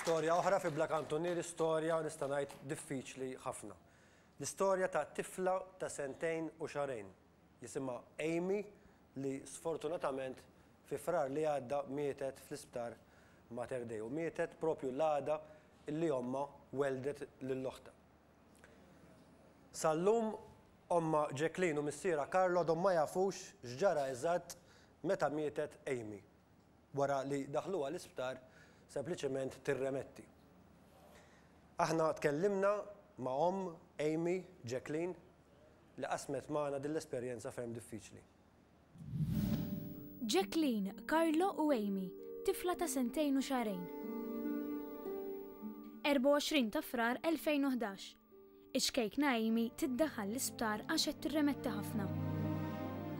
Storja oħra fi Bla Kantunieri, storja nista' ngħid diffiċli ħafna. L-istorja ta' tifla ta' sentejn u xahrejn, jisimha Amy li sfortunatament fi Frar li għadda mietet fl-Isptar Mater Dei u mietet proprju l-għada li ommha welldet lil oħtha. Sal-lum Ommha Jacqueline u missierha Karl għadhom ma jafux x'ġara eżatt meta mietet Amy. Wara li daħluha l-isptar sempliċement tirremetti. Aħna tkellimna ma' omm Amy, Jacqueline, li qasmet magħna din l-esperjenza ferm diffiċli. Jacqueline, Carlo u Amy, tifla ta' sentejn u xahrejn. 24 ta' Frar 2011. Iċ-ċkejkna Amy tiddaħħal l-isptar għax qed tirremetti ħafna.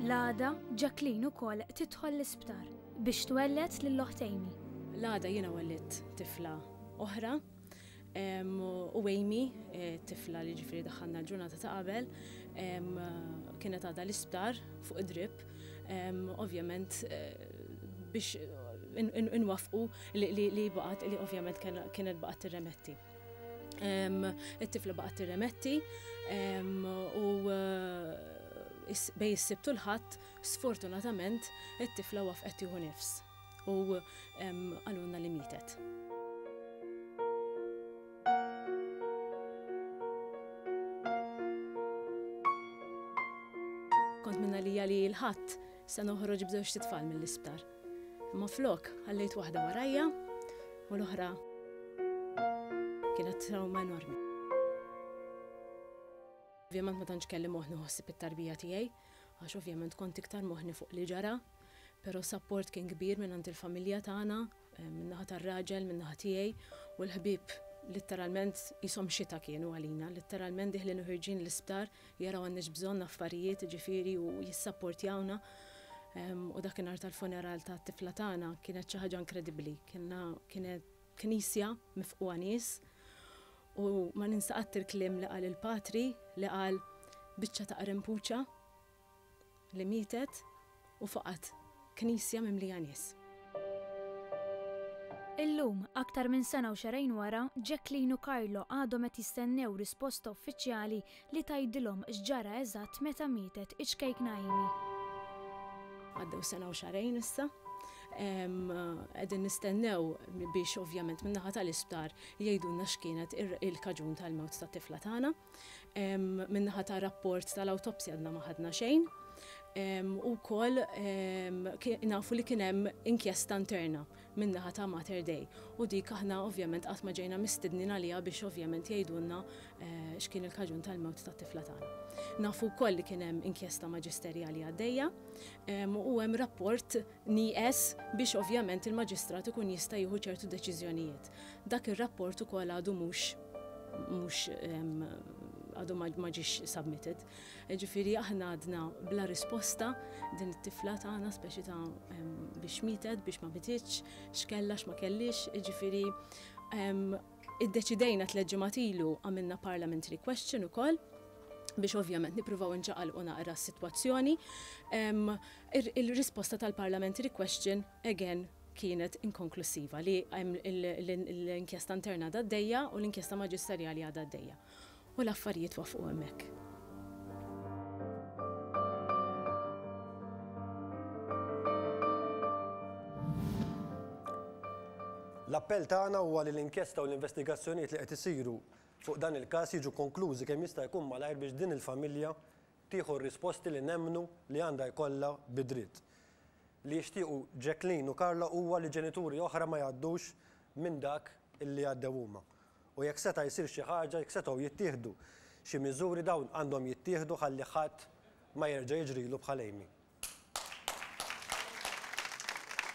L-għada, Jacqueline ukoll tidħol l-isptar biex twelled lil oħt Amy. L-għada jiena wellidt tifla oħra. U Amy, eh, tifla li ġifiri daħħalna l-ġurnata ta' qabel, kienet għada l-isptar fuq id-drip, ovvjament eh, biex inwafqu li baqat li ovvjament kienet baqat tirremetti. It-tifla baqat tirremetti u eh, bej s-sibtu l-ħadd sfortunatament it-tifla wafqet juhu nifs. u qalulna li mietet. għalija li l-ħadd se noħroġ b'żewġ titfal mill-isptar. Imma flok ħallejt waħda warajja u l-oħra kienet trauma enormi. Ovvjament ma tantx kelli moħni ħossib it-tarbija tiegħi, għax ovvjament kont iktar moħni fuq li ġara Però s-sapport kien kbir mingħand il-familja tagħna, min-naħa tar-raġel, min-naħa tiegħi, u l-ħbieb litteralment qishom xita kienu għalina, litteralment dieħlin u ħirġin l-isptar jaraw għandniex bżonn affarijiet, jiġifieri u jissapportjawna, u dakinhar tal-funeral tat-tifla tagħna kienet xi ħaġa inkredibbli, kellna kienet knisja mifqugħa nies, u ma ninsa qatt il-kliem li qal il-Patri li qal, Biċċa ta' qrempuċa. li mietet u faqgħet knisja mimlija nies. Illum, aktar minn sena u xahrejn wara, Jacqueline u Carlo għadhom qed jistennew risposta uffiċjali li tgħidilhom x'ġara eżatt meta mietet iċ-ċkejkna Amy. Għaddew sena u xahrejn issa. Qegħdin nistennew biex ovvjament min-naħa tal-isptar jgħidulna x'kienet il-kaġun tal-mewt tat-tifla tagħna. Min-naħa ta' rapport tal-awtopsja għadna ma ħadna xejn. U wkoll nafu li kien hemm inkjesta interna min-naħa ta' Mater Dei. U dik aħna ovvjament qatt ma ġejna mistednin għaliha biex ovvjament jgħidulna x'kien il-kaġun tal-mewt tat-tifla tagħna. Nafu wkoll li kien hemm inkjesta maġisterjali għaddejja u hemm rapport nieqes biex ovvjament il-maġistrat ikun jista' jieħu ċertu deċiżjonijiet. Dak ir-rapport ukoll għadu mhux mhux għadu ma ġiex submitted. Ġifieri aħna għadna bla risposta din it-tifla tagħna speċi ta' biex mietet, biex ma mititx, x'kellha x'ma kellix, ġifieri iddeċidejna tliet ġimgħat ilu għamilna parliamentary question ukoll biex ovvjament nippruvaw inċaqalqu naqra s-sitwazzjoni. Il-risposta tal-parliamentary question again kienet inkonklussiva li hemm l-inkjesta interna għadha għaddejja u l-inkjesta maġisterjali għadha għaddejja. U l-affarijiet waffqu hemmhekk. L-appell tagħna huwa li l-inkjesta u l-investigazzjonijiet li qed isiru fuq dan il-każ jiġu konklużi kemm jista' jkun malajr biex din il-familja Tieħu r-risposti li nemmnu li għandha jkollha bi dritt. Li jixtiequ Jacqueline u Carla huwa li ġenituri oħra ma jgħaddux minn dak li għaddew huma. U jekk seta' jsir xi ħaġa, jekk setgħu jittieħdu xi miżuri dawn għandhom jittieħdu ħalli ħadd ma jerġa' jiġrilu bħal Amy.